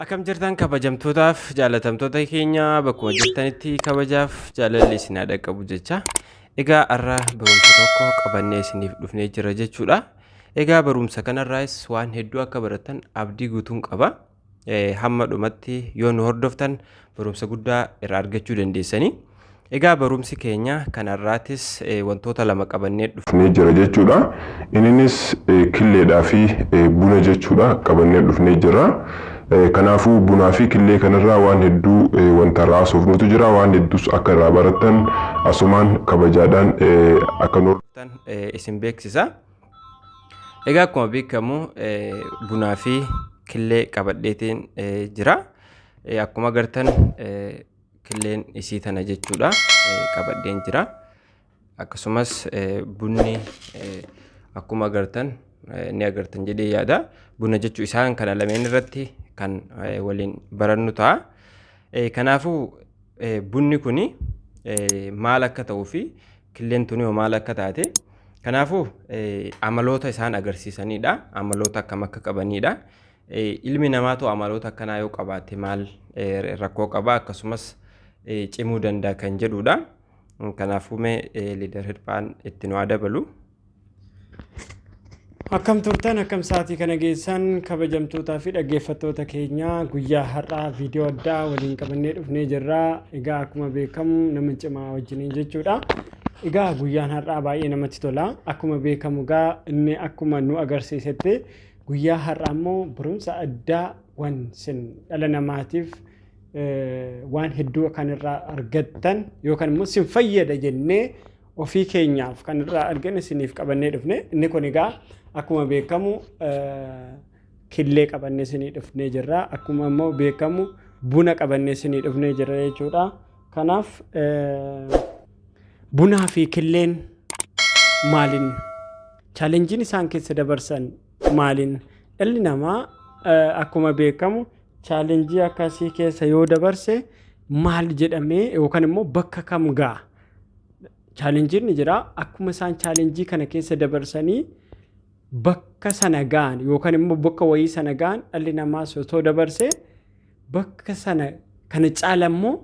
Akkam jirtan kabajamtootaaf jaalatamtoota keenya bakkuma jirtanitti kabajaaf jaalalli isin haa dhaqqabu jecha. Egaa har'a barumsa tokko qabannee isiniif dhufnee jira jechuudha. Egaa barumsa kanarraas waan hedduu akka baratan abdii guutuun qaba. hamma dhumatti yoo nu hordoftan barumsa guddaa irraa argachuu dandeessanii. Egaa barumsi keenya kanarraatis wantoota lama qabannee dhufnee jira jechuudha. Inninis killeedhaa fi buna jechuudha qabannee dhufnee jira. Kanaafuu bunaa fi killee kanarraa waan hedduu wanta irraa haasofnutu jira. Waan hedduus akka irraa barattan asumaan kabajaadhaan akka nu hordoftan isin beeksisa. Egaa akkuma beekamu bunaa fi killee qabadheetiin jira. Akkuma agartan killeen isii tana jechuudha qabadheen jira. Akkasumas bunni akkuma agartan ni agartan jedhee yaada. Buna jechuun isaan kana lameen irratti kan waliin barannu ta'a. Kanaafuu bunni kun maal akka ta'uu fi Killeen tuni hoo maal akka taate? Kanaafuu amaloota isaan agarsiisanidha. Amaloota akkam akka qabanidha. Ilmi namaatu amaloota akkanaa yoo qabaate maal rakkoo qaba akkasumas cimuu danda'a kan jedhudha. Kanaafuu mee liidar hirphaan itti nu haa dabalu. Akkam turtan akkam sa'aatii kana geessan kabajamtootaa fi dhaggeeffattoota keenya guyyaa har'aa viidiyoo addaa waliin qabannee dhufnee jirra. Egaa akkuma beekamu nama cimaa wajjiniin jechuudha. Egaa guyyaan har'aa baay'ee namatti tola. Akkuma beekamu egaa inni akkuma nu agarsiisetti guyyaa har'aa immoo barumsa addaa waan sin dhala namaatiif eh, waan hedduu kan irraa argattan yookaan immoo sin fayyada jennee ofii keenyaaf kan irraa argine isiniif qabannee dhufne inni kun egaa akkuma beekamu killee qabannee isinii dhufnee jirra akkuma immoo beekamu buna qabannee isinii dhufnee jirra jechuudha kanaaf bunaa fi killeen maaliin chaalenjiin isaan keessa dabarsan maaliin dhalli namaa akkuma beekamu chaalenjii akkasii keessa yoo dabarse maal jedhamee yookaan immoo bakka kam ga'a chaalenjiin ni jira akkuma isaan chaalenjii kana keessa dabarsanii bakka sana ga'an yookaan immoo bakka wayii sana ga'an dhalli namaa osoo dabarsee bakka sana kana caala immoo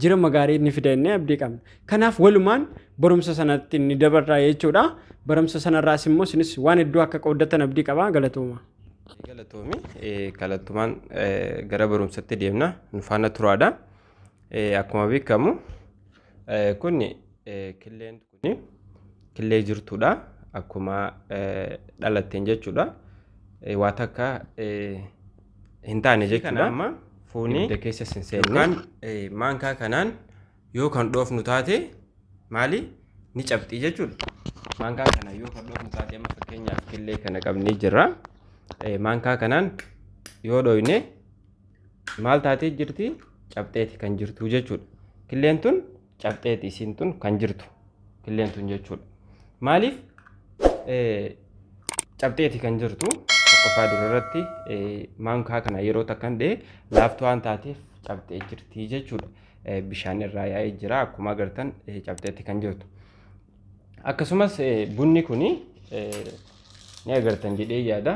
jira magaarii ni fida inni abdii qabna. Kanaaf walumaan barumsa sanatti ni dabarraa jechuudha. Barumsa sanarraas immoo isinis waan hedduu akka qooddatan abdii qabaa galatooma. Galatoomi galattumaan gara barumsatti deemna nu faana turaadha. Akkuma beekamu kun killeen kun killee jirtudha. Akkuma dhalatteen jechuudha. Waa takka hin taane jechuudha. Amma fuunee ibidda keessa sin seenne. Yookaan maankaa kanaan yoo kan dhoofnu taate maali ni cabxii jechuudha. Maankaa kana yoo kan dhoofnu taate amma fakkeenyaaf killee kana qabnee jirra. Maankaa kanaan yoo dhoofne maal taatee jirti cabxeeti kan jirtu jechuudha killeen tun cabxeeti isiin tun kan jirtu killeen tun jechuudha maaliif cabxeeti kan jirtu tokkoffaa dura irratti maankaa kana yeroo takkan dhee laaftuu waan taateef cabxee jirti jechuudha bishaan irraa yaa'ee jira akkuma agartan cabxeeti kan jirtu akkasumas bunni kun ni agartan jedhee yaada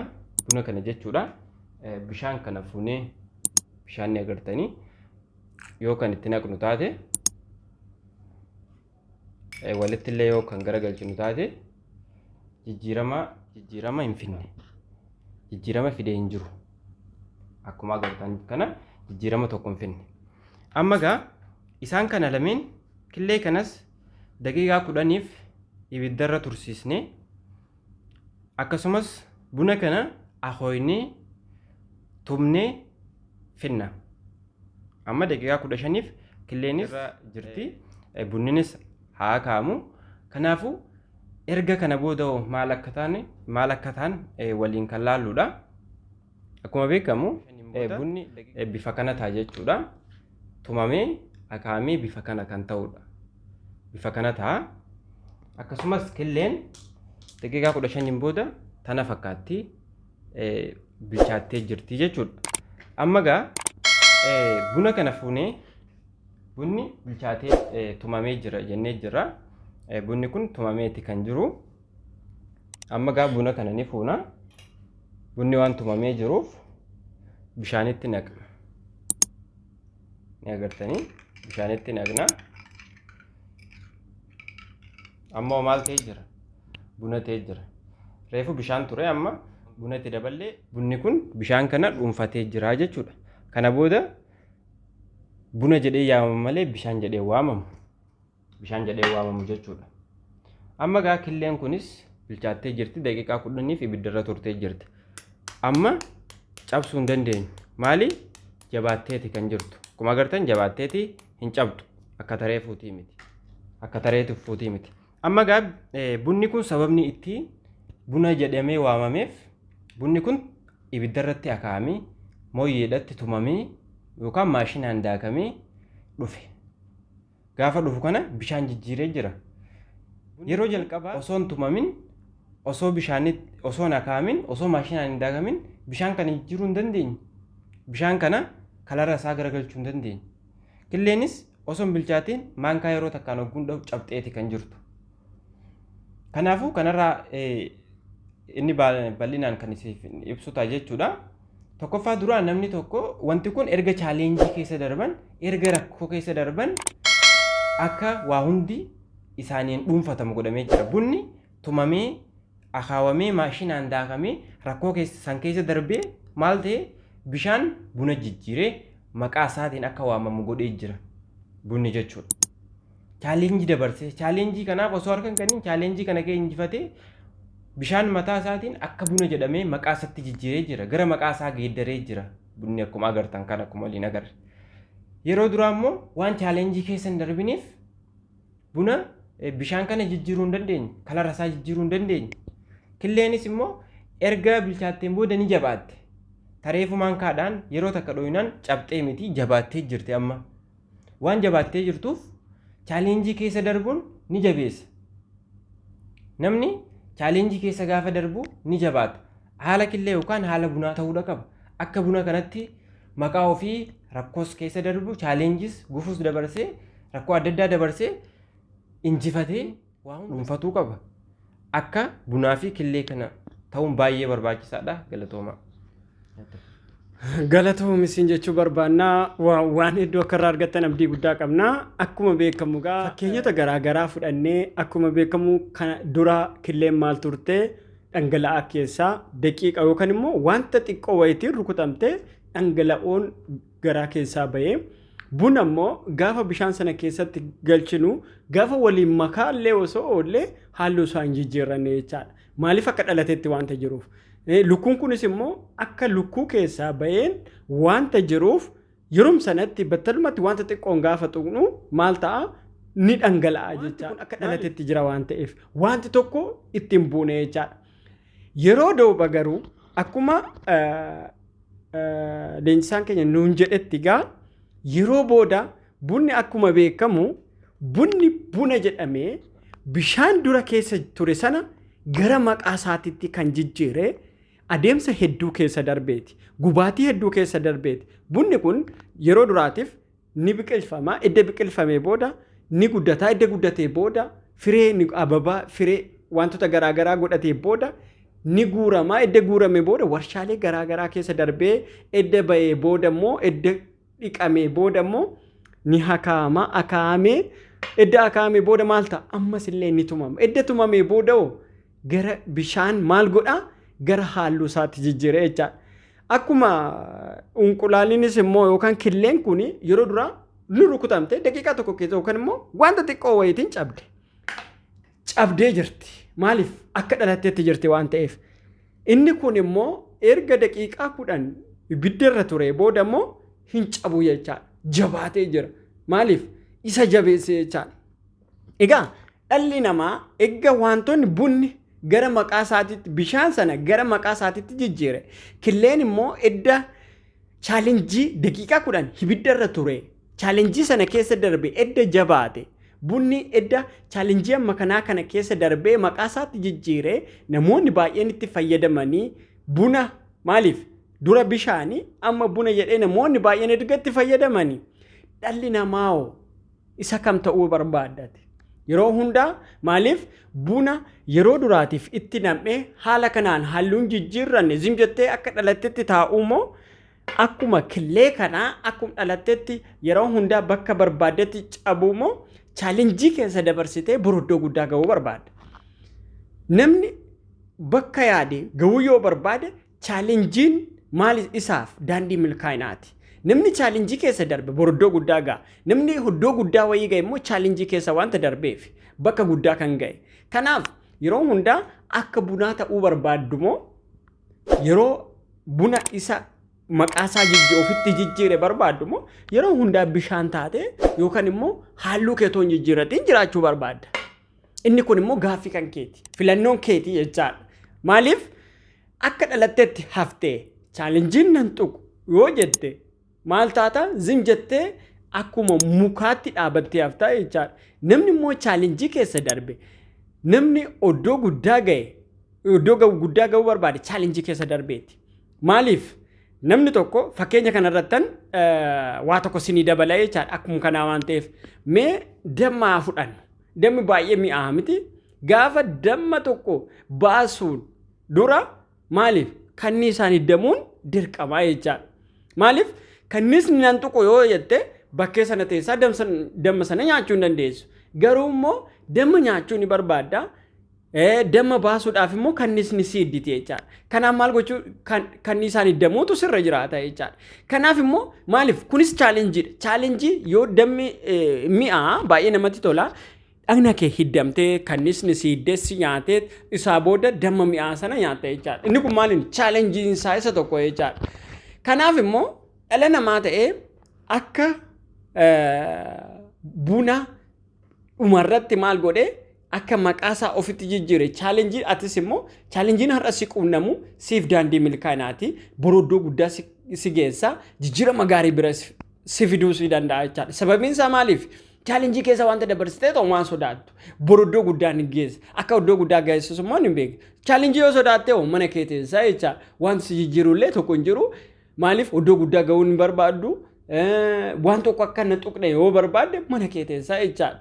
buna kana jechuudha Bishaan kana fuunee bishaan ni agartanii yoo kan itti naqnu taate walitti illee yoo kan garagalchinu taate jijjiirama jijjiirama hin finne jijjiirama fidee hin jiru akkuma agartan kana jijjiirama tokko hin finne amma egaa isaan kana lameen killee kanas daqiiqaa kudhaniif ibiddarra tursiisnee akkasumas buna kana akooynee tumnee finna amma daqiiqaa kudha shaniif killeenis irra jirti bunninis haa kaamu kanaafuu erga kana booda hoo maal akka taane maal akka taan waliin kan laalluudha. Akkuma beekamu bunni bifa kana ta'a jechuudha. Tumamee akaa'amee bifa kana kan ta'udha. Bifa kana ta'a. Akkasumas killeen daqiiqaa kudha shaniin booda tana fakkaatti bilchaattee jirti jechuudha. Amma egaa buna kana fuunee bunni bilchaatee tumamee jira jennee jira. Bunni kun tumameeti kan jiru. Amma gaa buna kana ni fuuna. Bunni waan tumamee jiruuf bishaanitti naqna. Ni agartanii bishaanitti naqna. Amma hoo maal ta'ee jira? Buna ta'ee jira. Reefu bishaan ture amma buna itti daballee bunni kun bishaan kana dhuunfatee jira jechuudha. Kana booda buna jedhee yaamama malee bishaan jedhee waamama. bishaan jedhee waamamu jechuudha. Amma gaa killeen kunis bilchaattee jirti daqiiqaa kudhaniif ibiddarra turtee jirti. Amma cabsuu hin dandeenyu. Maali? Jabaatteeti kan jirtu. Akkuma agartan jabaatteeti hin cabdu. Akka taree fuutii miti. Akka tareetu fuutii miti. Amma gaa bunni kun sababni itti buna jedhamee waamameef bunni kun ibiddarratti akaa'amee mooyyeedhatti tumamee yookaan maashinaan daakamee dhufe. Gaafa dhufu kana bishaan jijjiiree jira. Yeroo jalqabaa osoo hin tumamin, osoo bishaanii osoo hin akaa'amin, osoo maashinaan hin daakamin bishaan kana jijjiiruu hin dandeenye. Bishaan kana kalara isaa garagalchuu hin dandeenye. Killeenis osoo hin bilchaatiin maankaa yeroo takkaan ogguun dhahu cabxeeti kan jirtu. Kanaafuu kanarraa inni bal'inaan kan isiif ibsu ta'a jechuudha. Tokkoffaa duraa namni tokko wanti kun erga chaaleenjii keessa darban erga rakkoo keessa darban akka waa hundi isaaniin dhuunfatamu godhamee jira. Bunni tumamee akaawamee maashinaan daakamee rakkoo keessa san keessa darbee maal ta'e bishaan buna jijjiiree maqaa isaatiin akka waamamu godhee jira bunni jechuudha. challenge dabarse challenge kanaaf osoo harka hin kennin challenge kana kee injifatee bishaan mataa isaatiin akka buna jedhamee maqaa isatti jijjiiree jira gara maqaa isaa geeddaree jira bunni akkuma agartan kan akkuma waliin agarre yeroo duraa immoo waan challenge keessa hin darbiniif buna eh, bishaan kana jijjiiruu hin dandeenye kalara isaa jijjiiruu hin dandeenye killeenis immoo erga bilchaatteen booda ni jabaatte tareefumaan kaadhaan yeroo takka dhooyinaan cabxee miti jabaattee jirti amma Waan jabaattee jirtuuf chaaleenjii keessa darbuun ni jabeessa. Namni chaaleenjii keessa gaafa darbu ni jabaata. Haala killee yookaan haala bunaa ta'uudha qaba. Akka buna kanatti maqaa ofii rakkoos keessa darbu chaaleenjis gufuus dabarsee rakkoo adda addaa dabarsee injifatee dhuunfatuu qaba. Akka bunaa fi killee kana ta'uun baay'ee barbaachisaadha. Galatoomaa. Galatoomi siin jechuu barbaanna waan hedduu akka irraa argattan abdii guddaa qabna. Akkuma beekamu gaa fakkeenyota garaa garaa fudhannee akkuma beekamu kana dura killeen maal turte dhangala'aa keessaa daqiiqa yookaan immoo wanta xiqqoo wayitiin rukutamte dhangala'oon garaa keessaa ba'ee buna immoo gaafa bishaan sana keessatti galchinu gaafa waliin makaa illee osoo oollee halluu isaa hin jijjiirranne jechaadha. Maaliif akka dhalatetti wanta jiruuf. Eh, Lukkuun kunis immoo akka lukkuu keessaa ba'een wanta jiruuf yeroom sanatti battalumatti wanta xiqqoon gaafa tuqnu maal ta'a ni dhangala'a jechaadha. Akka dhalatetti jira waan ta'eef wanti tokko ittiin buune jechaadha. Yeroo dooba garuu akkuma leenjisaan keenya nuun jedhetti gaa yeroo booda bunni akkuma beekamu bunni buna jedhamee bishaan dura keessa ture sana gara maqaa isaatitti kan jijjiire adeemsa hedduu keessa darbeeti. Gubaatii hedduu keessa darbeeti. Bunni kun yeroo duraatiif ni biqilfama edda biqilfamee booda ni guddataa edda guddatee booda firee ni ababaa firee wantoota garaagaraa godhatee booda ni guuramaa edda guurame booda warshaalee garaagaraa keessa darbee edda ba'ee booda immoo edda dhiqamee booda immoo ni hakaama akaamee edda akaamee booda maal ta'a ammas illee ni tumama edda tumamee booda hoo gara bishaan maal godha gara halluu isaatti jijjiira jechaadha. Akkuma unqulaaliinis immoo yookaan killeen kun yeroo duraa ni rukutamte daqiiqaa tokko keessa yookaan immoo wanta xiqqoo wayiitiin cabde. Cabdee jirti. Maaliif akka dhalatteetti jirti waan ta'eef. Inni kun immoo erga daqiiqaa kudhan ibidda irra ture booda immoo hin cabu jechaadha. Jabaatee jira. Maaliif isa jabeessee jechaadha. Egaa dhalli namaa egga wantoonni bunni gara maqaa isaatiitti bishaan sana gara maqaa isaatiitti jijjiire killeen immoo edda chaalenjii daqiiqaa kudhan hibidda irra ture chaalenjii sana keessa darbe edda jabaate bunni edda chaalenjii amma kanaa kana keessa darbee maqaa isaatti jijjiire namoonni baay'een itti fayyadamanii buna maaliif dura bishaanii amma buna jedhee namoonni baay'een erga itti fayyadamanii dhalli namaa hoo Isa kam ta'uu barbaadda ati? Yeroo hundaa maaliif buna yeroo duraatiif itti nam'ee haala kanaan halluun jijjiirranne zim jettee akka dhalattetti taa'uu moo akkuma killee kanaa akkuma dhalattetti yeroo hundaa bakka barbaaddetti cabuu moo chaalenjii keessa dabarsitee boroddoo guddaa ga'uu barbaadda? Namni bakka yaade ga'uu yoo barbaade Chaalenjiin maal isaaf daandii milkaa'inaati. Namni chaalenjii keessa darbe bor iddoo guddaa ga'a. Namni iddoo guddaa wayii ga'e immoo chaalenjii keessa wanta darbeef bakka guddaa kan ga'e. Kanaaf yeroo hundaa akka bunaa ta'uu barbaaddu moo yeroo buna isa maqaa isaa jijji ofitti jijjiire barbaaddu moo yeroo hundaa bishaan taate yookaan immoo halluu kee otoo hin jijjiirratiin jiraachuu barbaadda. Inni kun immoo gaaffii kan keeti. Filannoon keeti jechaadha. Maaliif akka dhalatteetti haftee chaalenjiin nan tuqu yoo jette maal taata zim jettee akkuma mukaatti dhaabattee haftaa jechaadha. Namni immoo chaalenjii keessa darbe namni oddoo guddaa ga'e oddoo guddaa ga'uu barbaade chaalenjii keessa darbeeti. Maaliif namni tokko fakkeenya kanarrattan waa tokko sinii dabala jechaadha akkuma kanaa waan ta'eef mee dammaa fudhannu. Dammi baay'ee mi'aaha miti. Gaafa damma tokko baasuun dura maaliif kannii isaan hiddamuun dirqamaa jechaadha. Maaliif kanniisni nan tuqu yoo jette bakkee sana teessaa damma sana nyaachuu hin dandeessu. Garuu immoo damma nyaachuu ni barbaadda. Damma baasuudhaaf immoo kannisni si idditi jechaadha. Kanaaf maal gochuu kanniisaan iddamuutu sirra jiraata jechaadha. Kanaaf immoo maaliif kunis chaalenjiidha. Chaalenjii yoo dammi mi'aa baay'ee namatti tola. Dhagna kee hiddamtee kannisni si iddessi nyaatee isaa booda damma mi'aa sana nyaatta jechaadha. Inni kun maaliin chaalenjiin isaa isa tokko jechaadha. Kanaaf immoo dhala namaa ta'ee akka buna dhumarratti maal godhe akka maqaa isaa ofitti jijjiire chaalenjii atis immoo chaalenjiin har'a si quunnamu siif daandii milkaa'inaati boroddoo guddaa si, si geessa jijjiirama gaarii bira si, si fiduu si danda'a jechaadha sababiin isaa maaliif chaalenjii keessa wanta dabarsitee ta'u waan sodaattu boroddoo guddaa ni geessa akka iddoo guddaa geessus immoo ni beeka chaalenjii yoo sodaatte hoo mana kee teessaa jecha wanti si jijjiirullee tokko hin jiru Maaliif iddoo guddaa ga'uun hin barbaaddu waan tokko akka na tuqne yoo barbaadde mana kee teessaa jechaadha.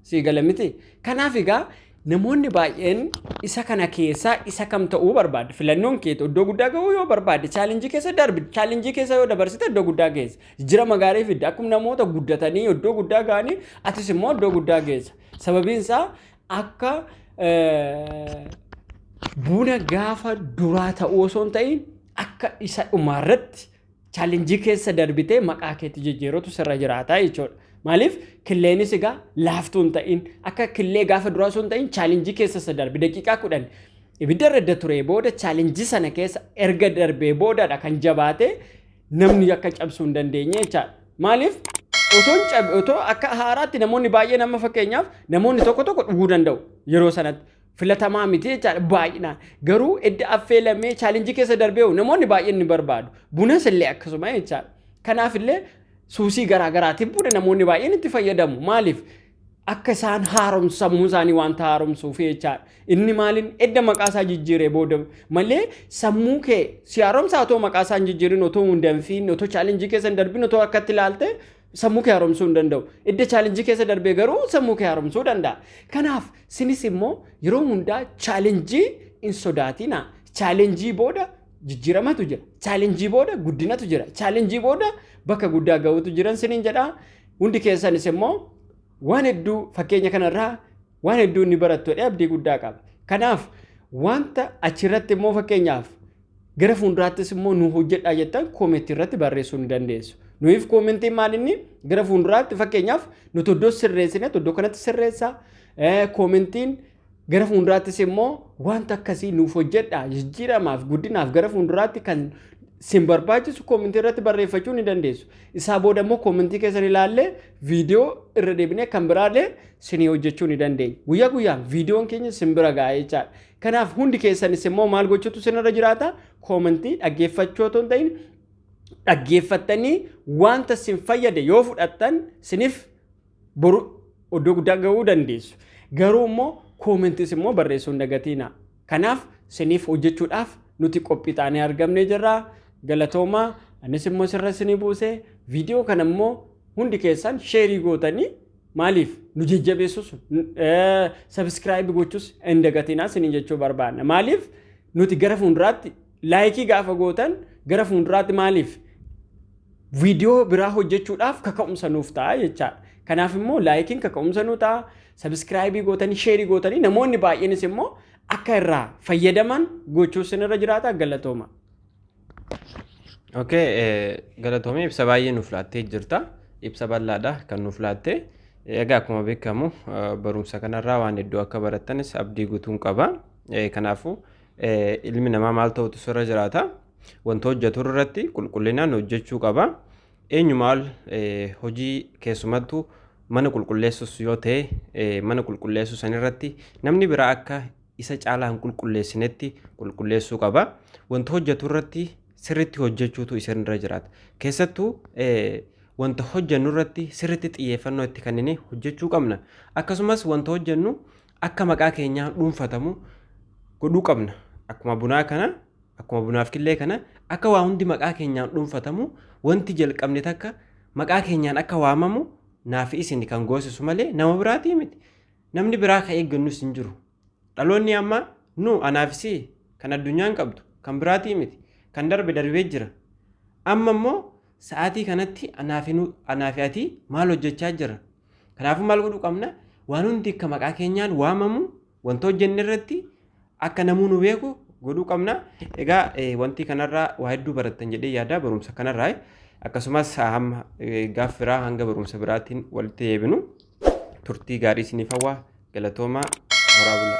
Sii gala miti. Kanaaf egaa namoonni baay'een isa kana keessaa isa kam ta'uu barbaadda. Filannoon keetu iddoo guddaa ga'uu yoo barbaadde chaalenjii keessa darbi. Chaalenjii keessa yoo dabarsite iddoo guddaa geessa. Jira magaarii fidda. Akkuma namoota guddatanii iddoo guddaa ga'anii atis immoo iddoo guddaa geessa. Sababiin isaa akka buna gaafa duraa ta'uu osoo hin ta'in akka isa dhumaarratti chaalenjii keessa darbitee maqaa keetti jijjiirutu sirra jiraataa jechuudha. Maaliif killeenis egaa laaftuu hin ta'in akka killee gaafa duraa osoo hin ta'in chaalenjii keessa isa darbe daqiiqaa kudhan ibidda irra turee booda chaalenjii sana keessa erga darbee boodadha kan jabaatee namni akka cabsuu hin dandeenye jechaadha. Maaliif? Otoon cabe otoo akka haaraatti namoonni baay'een amma fakkeenyaaf namoonni tokko tokko dhuguu danda'u yeroo sanatti. Filatamaa miti jechaadha baay'inaan. Garuu edda affeelamee chaalenjii keessa darbee hoo namoonni baay'een ni barbaadu. Bunas illee akkasuma jechaadha. Kanaaf illee suusii garaa garaatiif buna namoonni baay'een itti fayyadamu. Maaliif? Akka isaan haaromsu sammuu isaanii wanta haaromsuuf jechaadha. Inni maaliin edda maqaa isaa jijjiiree booda malee sammuu kee si haaromsa otoo maqaa isaa hin jijjiirin otoo hin danfiin otoo chaalenjii keessa hin darbin otoo akkatti ilaalte sammuu kee haaromsuu hin danda'u. Edda chaalenjii keessa darbee garuu sammuu kee haaromsuu danda'a. Kanaaf sinis immoo yeroo hundaa chaalenjii hin sodaatina. Chaalenjii booda jijjiiramatu jira. Chaalenjii booda guddinatu jira. Chaalenjii booda bakka guddaa ga'utu jiran siniin jedhaa. Hundi keessanis immoo waan hedduu fakkeenya kanarraa waan hedduu inni barattu jedhee abdii guddaa qaba. Kanaaf wanta achirratti immoo fakkeenyaaf gara fuulduraattis immoo nu hojjedhaa jettan koomentii irratti barreessuu ni dandeessu. Nuyiif koomentiin maal inni gara fuulduraatti fakkeenyaaf nuti iddoo sirreessine iddoo kanatti sirreessaa koomentiin Gara fuulduraattis immoo wanta akkasii nuuf hojjedhaa jijjiiramaaf guddinaaf gara fuulduraatti kan sin barbaachisu koomintii irratti barreeffachuu ni dandeessu. Isaa booda immoo koomintii keessan ilaallee viidiyoo irra deebinee kan biraallee sinii hojjechuu ni dandeenya. Guyyaa guyyaan viidiyoon keenya sin bira ga'a jechaadha. Kanaaf hundi keessanis immoo maal gochuutu sinirra jiraata? Koomintii dhaggeeffachuu otoo hin ta'in dhaggeeffattanii wanta sin fayyade yoo fudhattan siniif Boru iddoo guddaa ga'uu dandeessu. Garuu immoo koomentis immoo barreessuu hin dagatiina. Kanaaf siniif hojjechuudhaaf nuti qophii taanee argamnee jirra. Galatoomaa anis immoo sirra sinii buuse viidiyoo kana immoo hundi keessan sheerii gootanii maaliif nu jajjabeessus sabiskiraayibi gochus hin dagatinaa sinin jechuu barbaanna. Maaliif nuti gara fuulduraatti Laayikii gaafa gootan gara fuulduraatti maaliif viidiyoo biraa hojjechuudhaaf kaka'umsa nuuf ta'a jechaadha. Kanaaf immoo laayikiin kaka'umsa nu ta'a, sabiskiraayibii gootanii, sheerii gootanii namoonni baay'eenis immoo akka irraa fayyadaman gochuu sinirra jiraata galatooma. Okay, galatoomii ibsa baay'ee nuuf laattee jirta. Ibsa bal'aadha kan nuuf laattee. Egaa akkuma beekamu barumsa kanarraa waan hedduu akka barattanis abdii guutuun qaba. Kanaafuu Ilmi namaa maal ta'utu sirra jiraata? Wanta hojjetu irratti qulqullinaan hojjechuu qaba. Eenyu maal hojii keessumattuu mana qulqulleessus yoo ta'e mana qulqulleessuu san irratti namni biraa akka isa caalaa hin qulqulleessinetti qulqulleessuu qaba. Wanta hojjetu irratti sirriitti hojjechuutu isin irra jiraata. Keessattuu wanta hojjennu irratti sirriitti xiyyeeffannoo itti kennine hojjechuu qabna. Akkasumas wanta hojjennu akka maqaa keenyaa dhuunfatamu godhuu qabna. Akkuma bunaa kana, akkuma bunaaf killee kana akka waa hundi maqaa keenyaan dhuunfatamu wanti jalqabne takka maqaa keenyaan akka waamamu naaf isin kan goosisu malee nama biraatii miti. Namni biraa ka eeggannus hin jiru. Dhaloonni ammaa nu anaaf si kan addunyaan qabdu kan biraatii miti. Kan darbe darbee jira. Amma immoo sa'aatii kanatti anaafi ati maal hojjechaa jira? Kanaafuu maal godhuu qabna? Waan hundi akka maqaa keenyaan waamamu wanta hojjenne irratti akka namuu nu beeku godhuu qabna. Egaa eh, wanti kanarraa waa hedduu barattan jedhee yaada barumsa kanarraa. eh. Akkasumas hamma eh, gaaf biraa hanga barumsa biraatiin walitti deebinu turtii gaarii isiniif hawwa galatoomaa horaa bulaa.